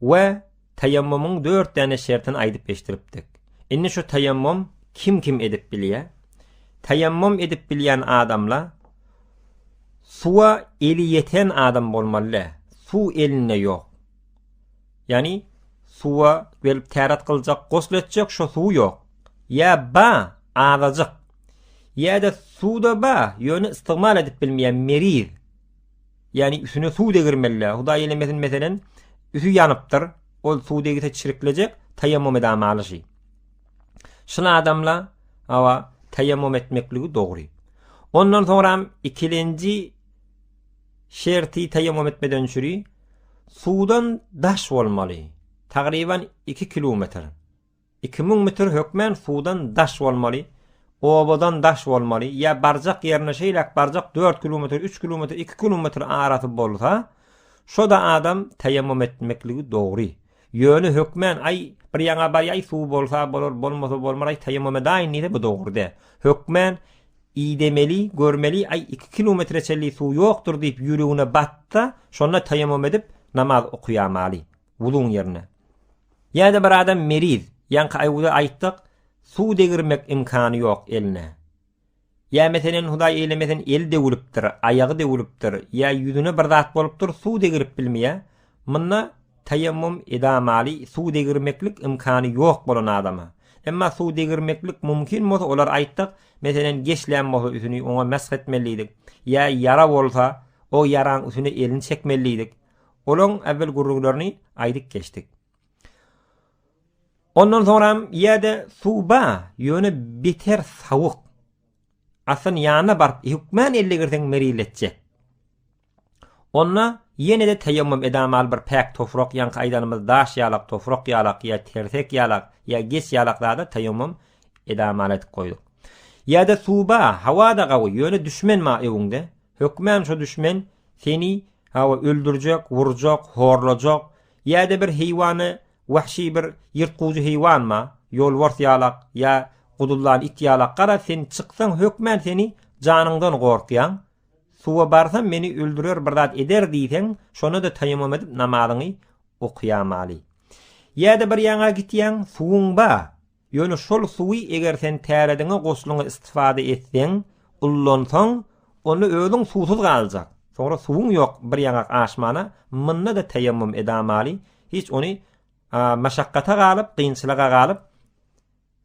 We taýammumyň dört däne şertini aýdyp eşdiripdik. Indi şu taýammum kim kim edip bilýä? Taýammum edip bilýän adamla suwa eli ýeten adam bolmaly. Suw elinde ýok. Ýani suwa gelip täret gyljak, gosl etjek şo suw ýok. Ýa ba, azajyk. Ýa-da suwda ba, ýöne istigmal edip bilmeýä meriz. Ýagny üsüne suw degirmeli-dä. Hudaý eylemesin meselen, üsi ýanypdyr, ol suw degse çiriklejek, taýammum edamali şi. Şul adamla, hawa, taýammum etmekligi dogry. Ondan soňram ikilenji şerti taýammum etmeden çüri, suwdan daş bolmaly, tagryban iki kilometr. Iki müň mütr hökmän suwdan daş bolmaly, obadan daş bolmaly, ýa barjak ýerine şeýläk barjak dört kilometr, üç kilometr, iki kilometr arasy bolsa, şo-da adam teýemmüm etmekligi dogry. Ýöne hökmän, aý, bir ýaňa bar, aý, suw bolsa bolar, bolmasa bolmaz, aý, teýemmüm edäýin diýse, bu dogry däl. Hökmän, idemeli, görmeli, aý, iki kilometre çenli suw ýokdur diýip ýüregine batsa, şonda teýemmüm edip, namaz okaýamaly. Wuzuň ýerine. Ýa-da bir adam meriz, ýaňky aýwuda aýtdyk, suw degirmek imkany ýok eline. Ýa meselen Hudaý eýlemesin eli döwülipdir, aýagy döwülipdir, ýa ýüzüne bir zat bolupdyr, suw degirip bilmeýär. Munda taýammum edamaly suw degirmeklik imkany ýok bolan adama. Emma suw degirmeklik mumkin bolsa olar aýtdyk, meselen geçlän bolsa üsüni oňa mesh etmelidik. Ýa ýara bolsa o ýaraň üsüne elini çekmelidik. Olaň äwel gürrüňlerini aýdyp geçdik. Ondan soňram ýerde suw ba, ýöne beter sawuk. Asyň ýanyna baryp hökmän elle girseň meriletjek. Onda ýene-de teýemmüm edamaly bir päk tofrak ýaňky aýdanymyz daş ýalak, tofrak ýalak ýa tersek ýalak ýa geç ýalak zada teýemmüm edamaly aýdyp goýduk. Ýerde suw ba, hawa-da gawy, ýöne düşmen ma öwüňde. Hökmän şu düşmen seni Hawa, öldürjek, urjak, horlajak, ýa-da bir heýwany, wahşy bir ýyrtgujy heýwanma, ýolbars ýalak ýa guduldan it ýalak garaz sen çyksaň hökmän seni janyňdan gorkýan, suwa barsam meni öldürer bir zat eder diýseň şonada taýamum edip namazyňy okýamaly. Ýa-da bir ýaňa gitýäň, suwuň ba, Ýöne şol suwy eger sen tärediňe goşlyňa istifada etseň, ullansaň, onda özüň suwsuz galjak. Soňra suwuň ýok bir ýaňak aşmana munda-da teýemmüm edamaly, hiç ony maşakkata galyp, kynçylyga galyp,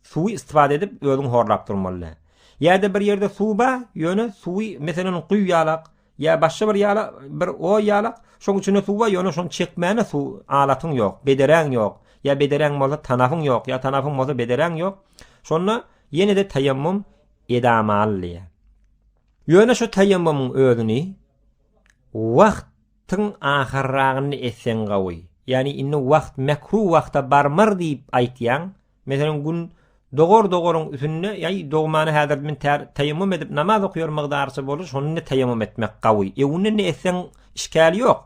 suwy istifada edip özüň horlap durmaly däl. Ýa-da bir ýerde suw bar, ýöne suwy meselem guýýalak, Ýa başga bir ýala, bir oý ýala, şoň içinde suw bar, ýöne şony çekmäne suw alatyň ýok, bederäň ýok. Ýa bederäň bolsa tanapyň ýok, ýa tanapyň bolsa bederäň ýok. Şonda ýene-de taýammum edamaly diýýär. Ýöne şu taýammumyň özüni wagt tyň ahyrragynda etseň gawy. Ýagny indi wagt mekruh wagta barmar diýip aýtýaň, Meselem gün dogar dogaryň üsünde ýaý dogmany häzir men tar taýamum edip namaz okýar mygdarça bolar şonda taýamum etmek gawy. Ewinde ne etseň işkal ýok.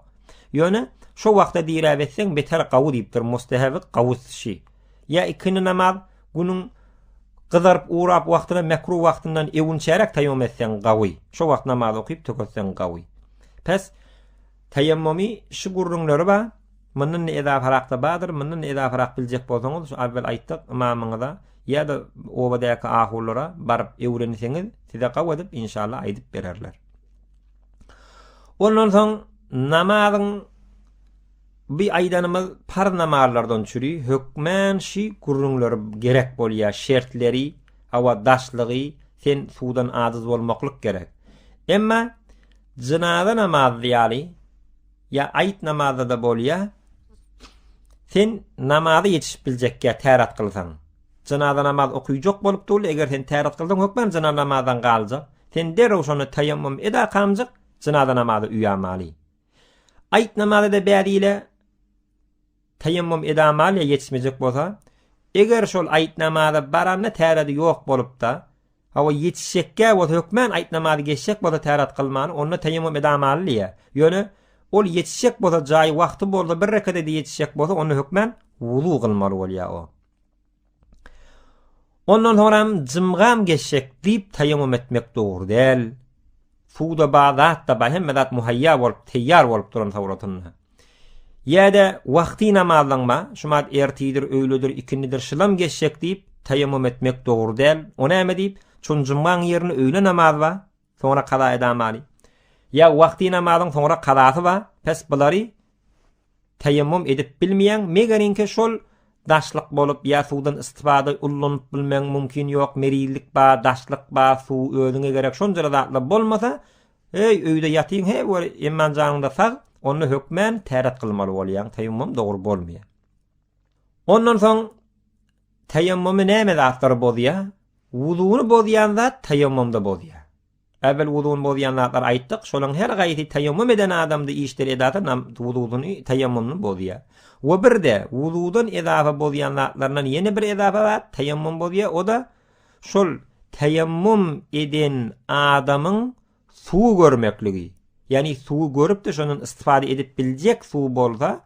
Ýöne şo wagta diräp etseň beter gawy diýipdir mustahaby gawy şi. Ýa ikindi namaz günüň gyzaryp urap wagtyna mekruh wagtyndan ewünçäräk taýamum etseň gawy. Şo wagt namaz okyp töketseň gawy. Pes Taýammumy şu gürrüňleri bar, mundan-da edafarakda bardyr, mundan-da edafarak biljek bolsaňyz şu awwel aýtdyk ymamyňyza ýa-da obadaky ahulara baryp öwrenseňiz size gabadyp inşallah aýdyp bererler. Ondan soň namazyň bu aýdanymyz parz namazlardan çüri hökmän şu gürrüňleri gerek bolýar şertleri, hawa daşlygy, sen suwdan adyz bolmaklyk gerek. Emma Jynaza namazy ýaly, ýa aýyt namazda-da bolýa, sen namaza ýetişip biljekkä täret kylsaň, jynaza namaz okyjak bolup dur, eger sen täret kylsaň hökman jyna namazdan galjak, sen derrew şonda taýammum ed akamjyk, jynaza namazy uýamaly. Aýyt namazy-da bädile, Taýammum edamaliýa ýetişmejek bolsa, eger şol aýt namaza baranda täredi ýok bolupda, hawa ýetişjekkä bolsa hökmän aýt namazy geçjek bolsa täret kylmaly, onda taýammum edamaliýa, ýöne ol ýetişjek bolsa jaýy wagty bolsa bir rekat ede ýetişjek bolsa onda hökmän wuzu kylmaly bolýa o. Ondan soň hem jymgam geçjek diýip taýamum etmek dogry däl. Suwda bar zat da bar, hemme zat muhaýýa bolup, teýýar bolup duran sowratynda. Ýa-da wagty namazlaň bar, şumat ertidir, öýledir, ikindidir, şylam geçjek diýip taýamum etmek dogry däl. O näme diýip, çün jymgaň ýerinde öýle namaz bar. Soňra kaza edamaly. Ýa wagty namazyň soňra kazasy bar, pes bulary teýemmum edip bilmeýäň, megerinki şol daşlyk bolup ýa suwdan istifada ullanyp bilmeň mumkin ýok, merizlik bar, daşlyk bar, suw özüňe gerek şonjara zatlar bolmasa, eý öýde ýatyň he bir eman janyňda sag, onda hökmän täret kylmaly bolýaň, teýemmum dogry bolmaýar. Ondan soň Taýammumy näme zatlar bozýar? Wuzuny bozýan zat taýammumda bozýar. Äwel wuzuny bozýan zatlar aýtdyk, şolaryň her gaýsy taýammum eden adamda işleri edasy nam wuzuny, taýammumyny bozýar. We birde, wuzudan edasy bozýan zatlaryndan ýene bir edasy zat taýammum bozýar, o-da şol taýammum eden adamyň suwy görmekligi, ýagny suwy görüp-de şondan istifade edip biljek suw bolsa,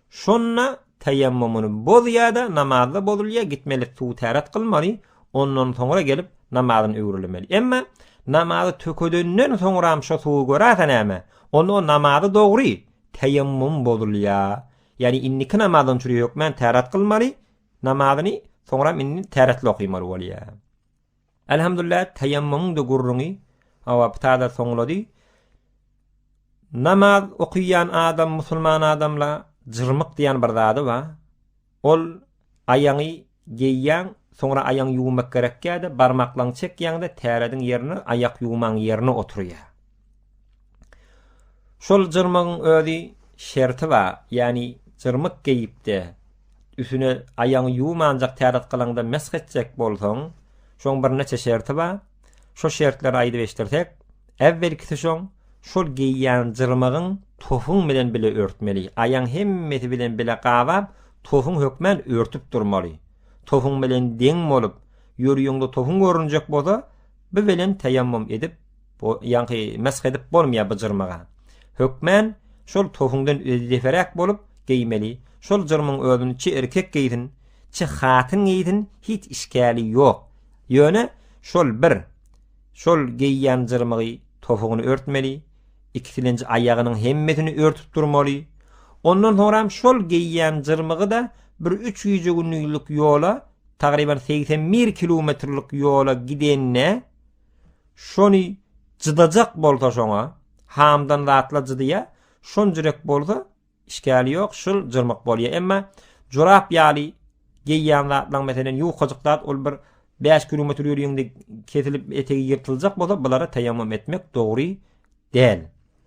şonda teýemmumuny bozýar-da, namazda bozulýar, gitmeli suwy täret kylmaly, ondan soňra gelip namazyny öwrülemeli. Emma namazy tökedenden soňram şo suwy görärse näme? Onda o namazy dogry, teýemmum bozulýar. Ýagny indiki namazdan çüri hökmän täret kylmaly, namazyny soňram indi täretli okymaly bolýar. Elhamdulillah taýammumyň-da gürrüňi hawa bu taze soňlady. Namaz okuýan adam, musulman adamla jyrmyk diýen bir zady ba. Ol aýaňy geýýäň, soňra aýaň ýuwmak gerekýä-de, barmaklaň çekýäň-de, tärediň ýerine aýak ýuwmaň ýerine oturýa. Şol jyrmygyň özi şerti bar, ýagny jyrmyk geýip-de, üstüne aýagyňy ýuwmanjak täret gylyňda mesh etjek bolsaň, şoň birnäçe şerti bar. Şo şertleri aýdyp eşdirsek, äwwelkisi şoň, şol geýýän jyrmygyň tofuň bilen bile örtmeli. Aýagyň hemmesi bilen bile gabap, tofuň hökmän örtüp durmaly. Tofuň bilen deň bolup, ýörüýüňde tofuň görünjek bolsa, bu bilen teýemmum edip Bu ýaňky mesh edip bolmýa bu jyrmaga. Hökmän şol tohuňdan özdeferäk bolup geýmeli. Şol jyrmyň özüni çi erkek geýsin, çi hatyn geýsin hiç işgäli ýok. Ýöne şol bir şol geýýän jyrmygy tohugyny örtmeli, ikisilenji aýagynyň hemmesini örtüp durmaly. Ondan soňram şol geýýän jyrmygy-da bir üç gije günlülik ýola, tagryban segsen bir kilometrlik ýola gidende, Şony jydajak bolsa şoňa hamdan zatla jydyja şon jürek bolsa işgäli ýok şul jyrmyk bolýa emma jorap ýaly geýýän zatlaň meselen ýukajyk zat ol bir bäş kilometr ýörýeňde kesilip etegi ýyrtyljak bolsa bulara teýemmüm etmek dogry däl.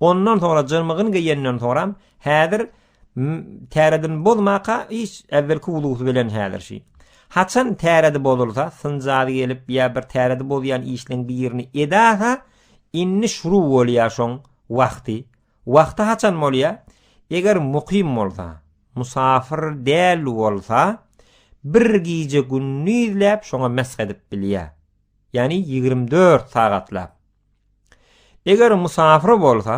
Ondan sonra jyrmygyn geýenden soram häzir täredini bozmaka hiç äwelki wuzusy bilen häzirşi. Haçan täredi bozulsa, synjady gelip ýa bir täredi bozýan işleň birini edasa, indi şuru bolýa şoň wagty. Wagty haçan bolýa? Eger mukym bolsa, musafyr däl bolsa, bir gije gündizläp şoňa mesh edip bilýa. Ýani ýigrimi dört sagatlap. Eger musafir bolsa,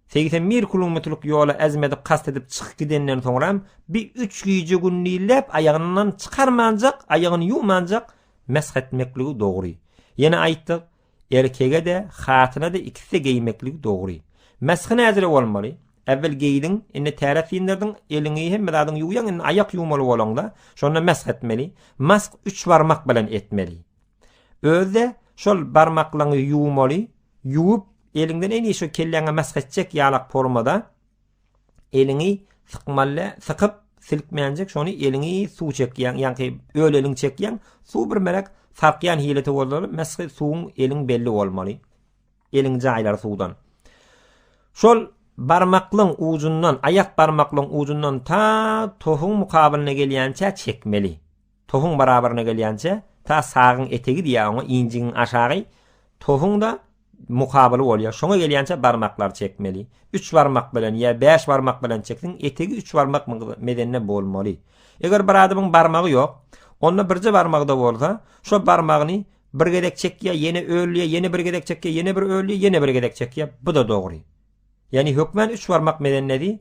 segsen bir kilometrlik ýoly ezmedi kast edip çykyp gidenden soňram, bi üç gije-gündizläp aýagyndan çykarmanjak, aýagyny ýuwmanjak mesh etmekligi dogry. Ýene aýtdyk, erkege-de, hatyna-da ikisi-de geýmekligi dogry. Meshi nädire bolmaly? Äwwel geýdiň, indi täret syndyrdyn, eliňi, hemme zadyňy ýuwýaň, indi aýak ýuwmaly bolaňda, şonda mesh etmeli. Mask üç barmak bilen etmeli. Özde şol barmaklaňy ýuwmaly, ýuwup eliňden eli şu kelläňe mesh etjek ýalak formada eliňi sykmaly, sykyp silkmänjik şony eliňi suw çekýäň, ýaňky öl eliň çekýäň, suw bir merek sarkýan hilete bolmaly, meshi suwuň eliň belli bolmaly. Eliň jaýlary suwdan. Şol barmaklyň ujundan, aýak barmaklyň ujundan ta tohuň mukabylyna gelýänçä çekmeli. Tohuň barabaryna gelýänçä, ta sagyň etegi diýýär oňa, injigiň aşagy, tohuň-da mukabyly bolýar. Şoňa gelýänçä barmaklary çekmeli. Üç barmak bilen ýa bäş barmak bilen çekseň, etegi üç barmak medende bolmaly. Eger bir adamyň barmagy ýok, onda birje barmagy-da bolsa, şo barmagyny bir gezek çekýär, ýene öldýär, ýene bir gezek çekýär, ýene bir öldýär, ýene bir gezek çekýär. Bu-da dogry. Ýagny hökmän üç barmak medendedi.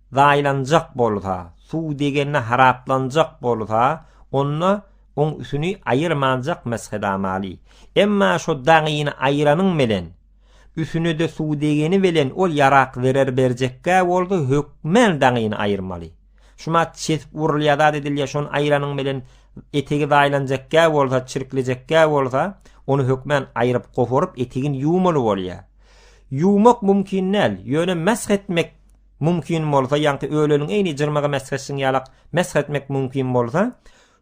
zaýalanjak bolsa, suw degende haraplanjak bolsa, onda oň üsüni aýyrmanjak mesgedamaly. Emma şo dagyny aýyranyň bilen, üsüne-de suw degeni bilen ol ýarak zerer berjekkä bolsa, hökmän dagyny aýyrmaly. Şumat çesip urulýar zat edilýär, şony aýyranyň bilen etegi zaýalanjakkä bolsa, çirklejekkä bolsa, ony hökmän aýryp, goparyp, etegini ýuwmaly bolýar. Ýuwmak mümkin däl, ýöne mesh etmek mümkin bolsa, ýagty öleniň eýni jyrmagy mesh etşiň ýalak mesh etmek mümkin bolsa,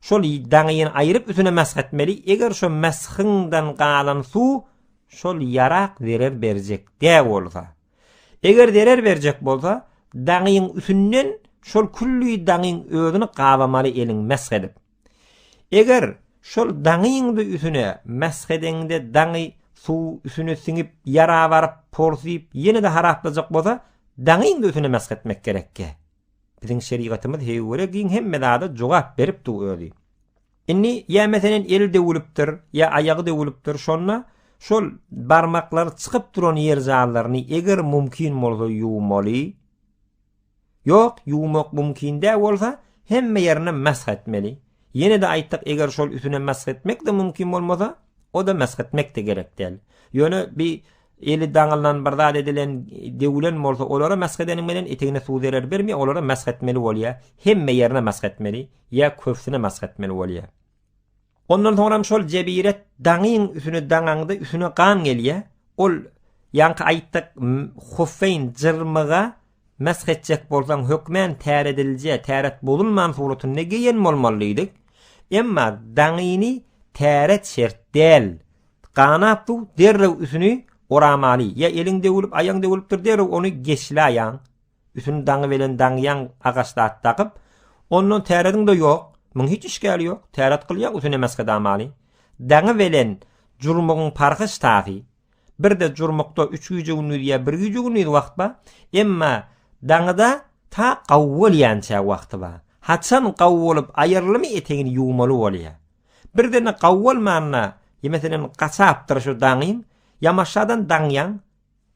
şol daňyny aýryp üstüne mesh etmeli, eger şo meshiňden galan suw şol ýarak zerer berjek dä bolsa. Eger zerer berjek bolsa, daňyň üstünden şol külli daňyň özüni gabamaly eliň mesh edip. Eger şol daňyňdy üsüne mesh edeňde daňy suw üsüne siňip ýara baryp porsyp ýene-de haraplajak bolsa daňyňdy üsüne mesh etmek gerekge. Biziň şerigatymyz heýwere giň hemme zada jogap berip dur özi. Indi ýa meselen eli döwülipdir ýa aýagy döwülipdir şonda şol barmaklary çykyp duran ýer jallaryny eger mumkin bolsa ýuwmaly. Ýok, ýuwmak mümkin däl bolsa, hemme ýerine mesh etmeli. Ýene-de aýtsak, eger şol üsüne mesh etmek-de mümkin bolmasa, o-da mesh etmek-de gerek däl. Ýöne bi eli daňylan bir zat edilen, döwülen bolsa, olara mesh edeniň bilen etegine suw zerer bermeýär, olara mesh etmeli bolýar. Hemme ýerine mesh etmeli, ýa köpüsine mesh etmeli bolýar. Ondan soňram şol jebiret daňyň üsüne daňaňda üsüne gan gelýä. Ol ýaňky aýtdyk Hussein jyrmyga mesh etjek bolsaň hökmän täredilje, täret bozulman suratynda geýen bolmalydyk. Emma daňyny täret şert däl. Ganap bu derrew üsüni oramaly. Ýa eliň döwülip, aýaň döwülipdir derrew ony geçläýäň. Üsüni daňy bilen daňýan agaç zat dagyp, ondan täretň-de ýok, muň hiç işgäli ýok, täret gylýa üsüne mesgeda maly. Daňy bilen jurmugyň parhy ştasy. Bir-de jurmukda üç gije-gündiz ýa bir gije-gündiz wagt bar, emma daňyda ta gawy bolýança wagty bar. Haçan gawy bolup aýyrylmy etegini ýuwmaly bolýa. Birden-de gawy bolmanda, ýemeseleň gaçapdyr şu daňyň, ýamaşjadan daňýaň,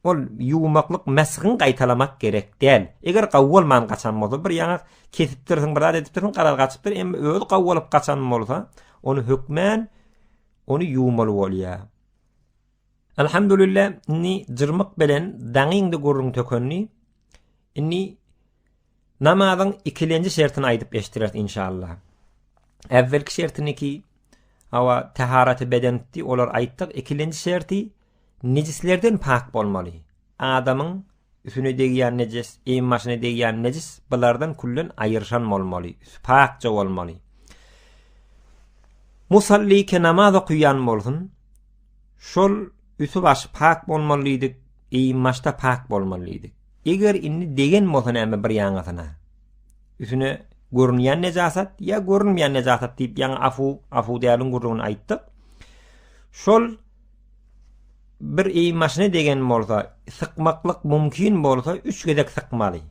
Ol ýuwmaklyk mesgin gaýtalamak gerek däl. Eger gawy bolman gaçan bolsa, bir ýaňak kesipdirsiň, bir zat edipdirsiň, garaz gaçypdyr, emma özi gawy bolup gaçan bolsa, ony hökmän ony ýuwmaly bolýar. Alhamdulillah, indi jyrmyk belen daňyňda gürrüň tökendi. Indi Namazyň ikilenji şertini aýdyp eşdireris inşallah. Äwwelki şertiniki awa taharaty bedenitdi, olar aýtdyk. Ikilenji şerti nejislerden pak bolmaly. Adamyň üsüne degýän nejis, eýin başyna degýän nejis bulardan küllen aýyrşan bolmaly, üsü pakja bolmaly. Musalli ke namaz okuýan bolsun, şol üsü başy pak bolmaly diýdik, eýin başda pak bolmaly diýdik. Eger indi degen bolsa näme bir ýaňysyna? Üsüne görünýän nejasat ýa görünmeýän nejasat diýip ýaňy afu afu däliň gurlugyny aýtdyk. Şol bir eý maşyna degen bolsa, sykmaklyk mümkin bolsa, üç gezek sykmaly.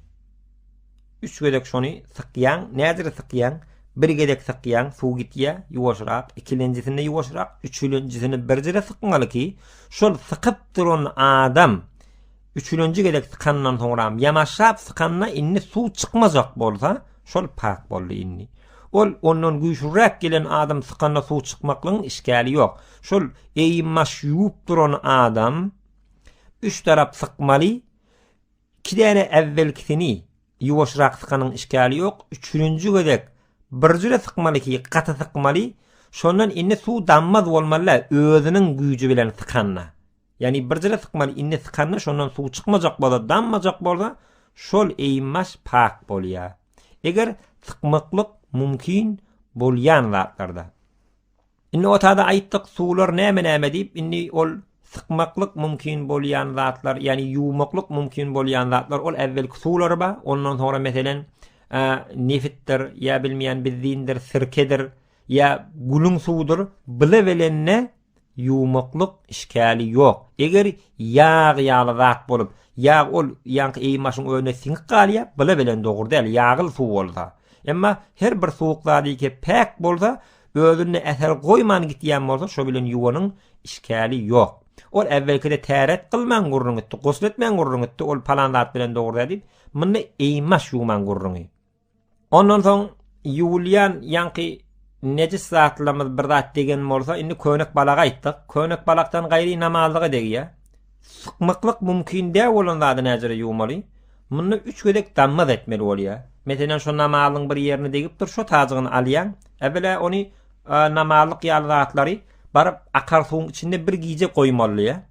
Üç gezek şony sykýaň, nädir sykýaň? Bir gezek sykýaň, suw gitýä, ýuwaşrak, ikilenjisinde ýuwaşrak, üçülenjisini birjire sykmaly ki, şol sykyp duran adam Üçülenji gezek sykandan soňram ýanaşap sykanda indi suw çykmajak bolsa, şol pak boldy indi. Ol ondan güýçlüräk gelen adam sykanda suw çykmaklygyň işgäli ýok. Şol eýim-maş ýuwup duran adam üç tarap sykmaly, iki däne äwwelkisini ýuwaşrak sykanyň işgäli ýok, üçülenji gezek birjüre sykmaly ki, gaty sykmaly, şondan indi suw dammaz bolmaly-da özüniň güýji bilen sykanda. Ýani birjire sykmaly indi sykanda şondan suw çykmajak bolsa danmajak bolsa şol eýin baş pak bolýa. Eger sykmaklyk mumkin bolýan zatlarda. Indi otada aýtdyk suwlar näme näme diýip indi ol sykmaklyk mumkin bolýan zatlar ýani ýuwmaklyk mumkin bolýan zatlar ol äwwelki suwlary ba ondan soňra meselen nefitdir ýa bilmeýän bizdiýindir sirkedir ýa gülüň suwudyr bile belende ýumaklyk işgäli ýok. Eger ýag ýaly zat bolup, ýag ol ýaňky eýmaşyň özüne siňip galýar, bile bilen dogry däl, ýagyl suw bolsa. Emma her bir suwuk zat ýeke päk bolsa, özünde äher goýman gitýän bolsa, şo bilen ýuwanyň işgäli ýok. Ol äwwelkide täret gylman gürrüň gitdi, gusl etmän gürrüň gitdi, ol palan zat bilen dogry däl diýip, munda eýmaş ýuwman gürrüňi. Ondan soň ýuwulýan ýaňky nejis zatlarymyz bir zat degen bolsa, indi könek balaga aýtdyk. Könek balakdan gaýry namazlyga degýär. Sykmaklyk mümkin däl bolan zady näjere ýuwmaly? Munda üç gezek dammaz etmeli bolýar. Meselem, şo namazyň bir ýerine degipdir, şo taýjygyny alýaň. Äwela ony namazlyk ýaly zatlary baryp akar suwuň içinde bir gije goýmalydyr.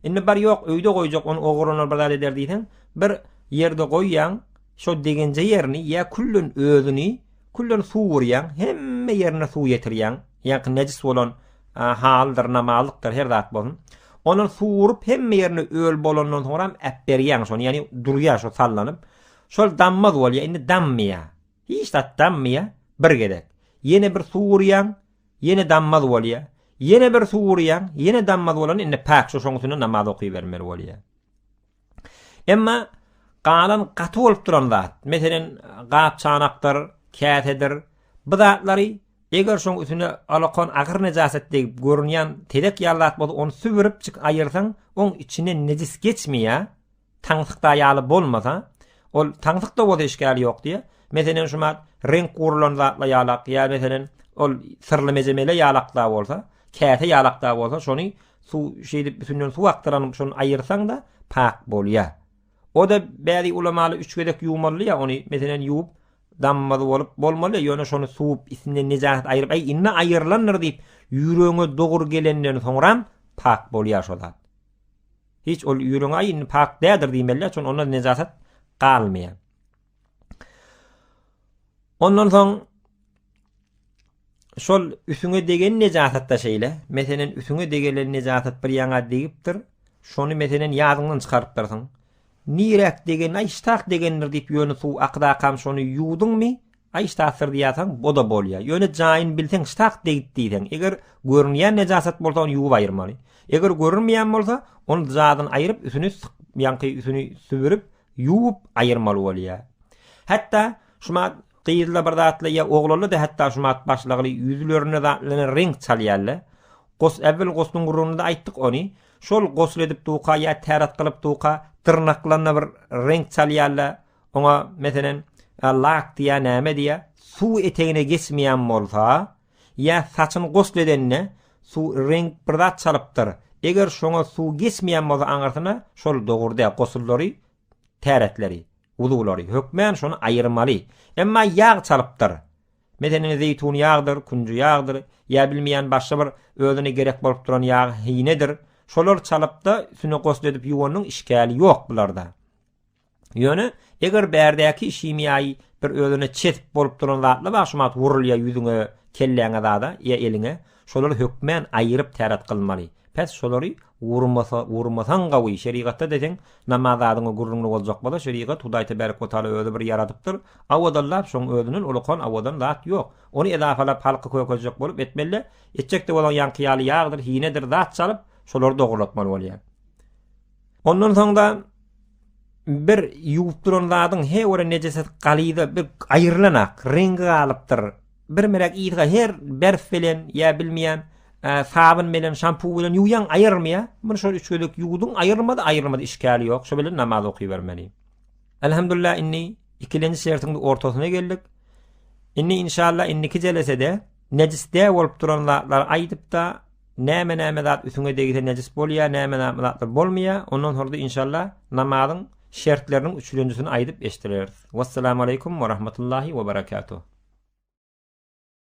Indi bar ýok, öýde goýjak, ony ogurlanar bir zat eder diýseň, bir ýerde goýýaň, Şo degenje ýerini ýa küllen özüni küllen suw urýaň, hemme ýerine suw ýetirýäň, ýaňky nejis bolan halydyr, namazlykdyr her zat bolsun. Ondan suw urup hemme ýerini öl bolandan soňram äpberýäň şony, ýagny durýar şo sallanyp. Şol dammaz bolýar, indi dammaýar. Hiç zat dammaýar, bir gezek. Ýene bir suw urýaň, ýene dammaz bolýar. Ýene bir suw urýaň, ýene dammaz bolanda indi pak, şo şoň üstüne namaz okybermeli bolýar. Emma galan gaty bolup duran zat, meselem, gap-çanakdyr, käsedir, bu zatlary eger şoň üstüne alakon agyr nejaset degip görünýän tezek ýaly zat bolsa, ony sübüripjik aýyrsaň, oň içinden nejis geçmeýär, taňsykda ýaly bolmasa, ol taňsykda bolsa işgäli ýok diýýär. Meselem, şumat reňk gurulan zatla ýalak, ýa meselem, ol syrly mejemele ýalakda bolsa, käse ýalakda bolsa, şony Suw şeýdip bütinlen suw akdyranyp şony aýyrsaňda pak bolýa. Oda bäri ulamaly üç gezek ýuwmalya ony meselen ýuwup dammaz bolup bolmalya ýöne şony suwup isinden nejaset aýyryp äý indi aýyrlandyr diýip ýüregiňe dogry gelenden soňram pak bolýa şo zat. Hiç ol ýüregiňe äý indi pak dädir diýmelya şon onda nejaset galmaya. Ondan soň şol üsüňe degen nejasatda şeýle, meselen, üsüňe degelen nejasat bir ýaňa degipdir, şony meselen ýadyňdan çykarypdyrsyň. Niräk degen, aý ştak degendir diýip ýöne suw akydakam şony ýuwduňmy, aý ştakdyr diýýärsiň, o-da bolýar. Ýöne jaýyny bilseň ştak degip diýseň, eger görünýän nejasat bolsa ony ýuwup aýyrmaly. Eger görünmeýän bolsa, ony jaýdan aýryp, üsüni syk, ýaňky üsüni sübürip, ýuwup aýyrmaly bolýar. Hatda şuma Gyzla bir zatla ýa oglanla-da hatda şu mat başlagly ýüzlerine zatlanan reňk çalýarlar. Gos äwwel gosluň gürrüňinde aýtdyk ony. Şol gosl edip duka ýa täret gylyp duka dyrnaklanyna bir reňk çalýarlar. Oňa, meselen, lak diýýär, näme diýýär. Suw etegine geçmeýän bolsa, ýa saçyny gosl edende suw reňk bir zat çalypdyr. Eger şoňa suw geçmeýän bolsa aňyrsyna, şol dogry däl. Gosullary täretleri, wuzulary, hökmän şony aýyrmaly. Emma ýag çalypdyr. Meselen, zeýtun ýagydyr, künji ýagydyr, ýa bilmeýän başga bir özüne gerek bolup duran ýag hinedir, şolar çalypda üstüne gosle edip ýuwanyň işgäli ýok bularda. Ýöne, eger bärdäki himiýaýy bir özüne çezip bolup duran zatla bagşymat wurulýa ýüzüňe, kelläňe zada, ýa eliňe, Şolary hökmän aýyryp täret kylmaly. Pes şolary urmasa, urmasaň gawy, şerigatda deseň, namaz adyňa gürrüňli boljak bolsa, şerigat, Hudaý tebärek we taala özi bir ýaradypdyr, awadallap, şoň özünden ulukan, awadan zat ýok. Ony edafalap halky kökezjek bolup etmeli-de, etjek-de bolaň ýaňky ýaly ýagdyr, hinedir zat çalyp, şolary dogrulatmaly bolýar. Ondan soň-da bir ýuwup duran zadyň he gören nejesesi galyza bir aýrylan-ak, reňgi galypdyr, Bir mürek yzga her berf bilen ýa bilmeýän sabyn bilen şampu bilen ýuwýaň aýyrmyýa. Muny şol üç gezek ýuwduň aýyrmady, aýyrmady işgäli ýok. Şo bilen namaz okybermeli. Elhamdulillah indi ikilenji şertiň ortasyna geldik. Indi inşallah indiki jelesede nejisde bolup duran zatlar aýdypda Näme näme zat üsüňe degse nejis bolýa näme näme zatlar bolmaýa ondan soňra da inşalla namazyň şertleriniň üçlenjisini aýdyp eşdireris. Wessalamu aleýkum we rahmetullahi we berekatuh.